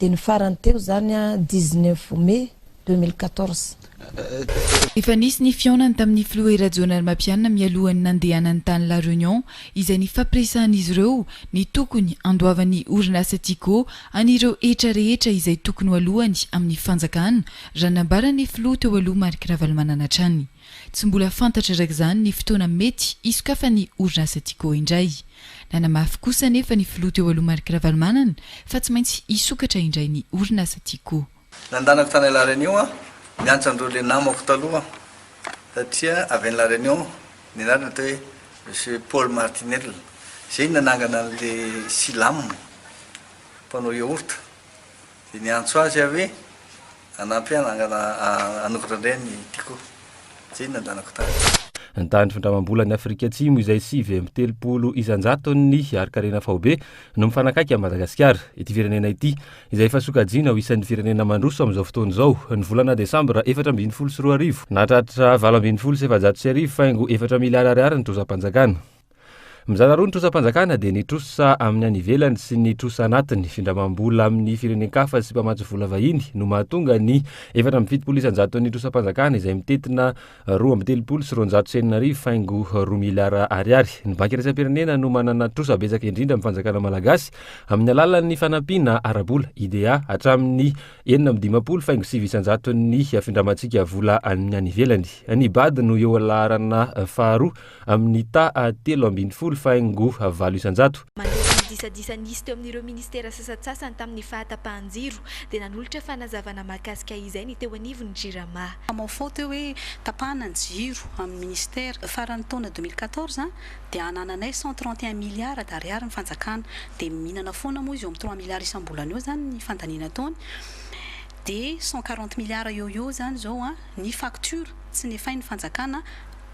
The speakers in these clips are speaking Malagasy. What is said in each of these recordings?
Dia ny farany teo izany dix neuf mai deux mille quatorze. Efa nisy ny fihaonany tamin'ny filoha I Rajaonarimampianina mialohan'ny nandehanany tany La Reunion izay nifampiresahan'izy ireo ny tokony handoavan'ny orinasa Tiko an'ireo hetra rehetra izay tokony ho aloany amin'ny fanjakana raha nambaran'ny filoha teo aloha Marc Ravalomanana hatrany. Tsy mbola fantatra araka izany ny fotoana mety hisokafan'ny orinasa Tiko indray. Nanamafy kosa anefa ny filoha teo aloha Marc Ravalomanana fa tsy maintsy hisokatra indray ny orinasa Tiko. Nandanako tany La Réunion aho, niantso an'ireo le namako taloha satria avy any La Réunion, ny anarany atao hoe Monsieur Paul Martinel, izay nanangana an'ilay Silam, mpanao yaourt, dia niantso azy aho hoe Hanampy ahy hanangana hanokatra indray ny Tiko izay nandanako tany. Ny tany findramam-bolan'i Afrika Atsimo izay sivy amby telopolo isan-jaton'ny harin-karena faobe no mifanakaiky amin'i Madagasikara. Ity firenena ity, izay efa sokajiana ho isan'ny firenena mandroso amin'izao fotoana izao, ny volana desambra efatra ambin'ny folo sy roa arivo, nahatratra valo ambin'ny folo sy efajato sy arivo faingo efatra miliara ariary ny trozam-panjakana. Mizara roa ny trosam-panjakana dia ny trosa amin'ny any ivelany sy ny trosa anatiny. Findramam-bola amin'ny firenen-kafa sy mpamatsy vola vahiny no mahatonga ny efatra amby fitopolo isan-jaton'ny trosam-panjakana izay mitentina roa amby telopolo sy roanjato sy enina arivo faingo roa miliara ariary. Ny Banky iraisam-pirenena no manana trosa betsaka indrindra amin'ny fanjakana malagasy amin'ny alalan'ny fanampiana ara-bola, IDA, hatramin'ny enina amby dimampolo faingo sivy isan-jaton'ny findramantsika vola amin'ny any ivelany. Ny bad no eo amin'ny laharana faharoa amin'ny taha telo ambin'ny folo faingo valo isan-jato. Mandritra ny disadisa nisy teo amin'ireo ministera sasantsasany tamin'ny fahatapahan-jiro dia nanolotra fanazavana mahakasika izay ny teo anivon'ny Jirama. Hamaofao teo hoe tapahana ny jiro amin'ny ministera. Faran'ny taona deux mille quatorze dia anananay cent trente et un milliards d'ariary ny fanjakana dia mihinana foana moa izy eo amin'ny trois milliards isam-bolana eo zany ny fandaniana ataony dia cent quarante milliards eo ho eo zany zao ny facture tsy nefain'ny fanjakana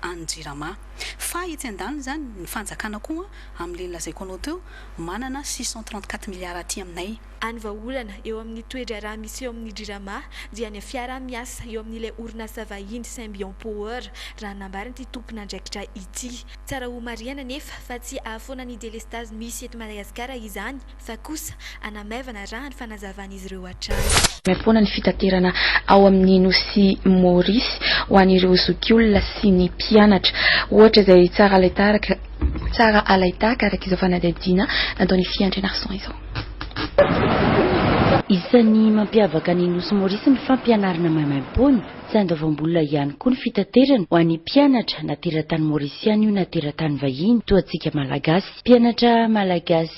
any Jirama. Fa etsy andaniny izany, ny fanjakana koa, amin'ilay nolazaiko anao teo, manana six cent trente quatre milliards aty aminay. Any vahaolana eo amin'ny toe-draharaha misy eo amin'ny Jirama dia ny fiaraha-miasa eo amin'ilay orinasa vahiny Symbion Power, raha ny nambarin'ity tompon'andraikitra ity. Tsara homarihana anefa fa tsy ahafoana ny delestazy misy eto Madagasikara izany fa kosa hanamaivana raha ny fanazavan'izy ireo hatrany. Maimaimpoana ny fitaterana ao amin'ny nosy Maurice ho an'ireo zokiolona sy ny mpianatra. Ohatra izay tsara alaitaraka tsara alaitaka araka izao fanadihadiana nataon'i Fy Andrianarison izao. Isan'ny mampiavaka ny nosy Maurice ny fampianarana maimaimpoana. Tsy andoavam-bola ihany koa ny fitaterana ho an'ny mpianatra na teratany Maurisiana io na teratany vahiny toa antsika Malagasy. Mpianatra Malagasy.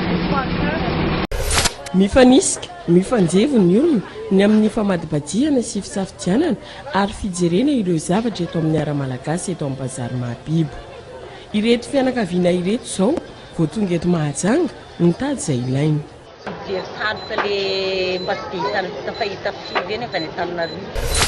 Mifanisika, mifanjevo ny olona ny amin'ny famadibadihana sy fisafidianana ary fijerena ireo zavatra eto amin'ny Ara-malagasy eto amin'ny Bazary Mahabibo. Ireto fianakaviana ireto izao vao tonga eto Mahajanga nitady izay ilainy. Fijery taloka le mba tsy dia hitan'ny vita fa hita firy eny avy any Antananarivo.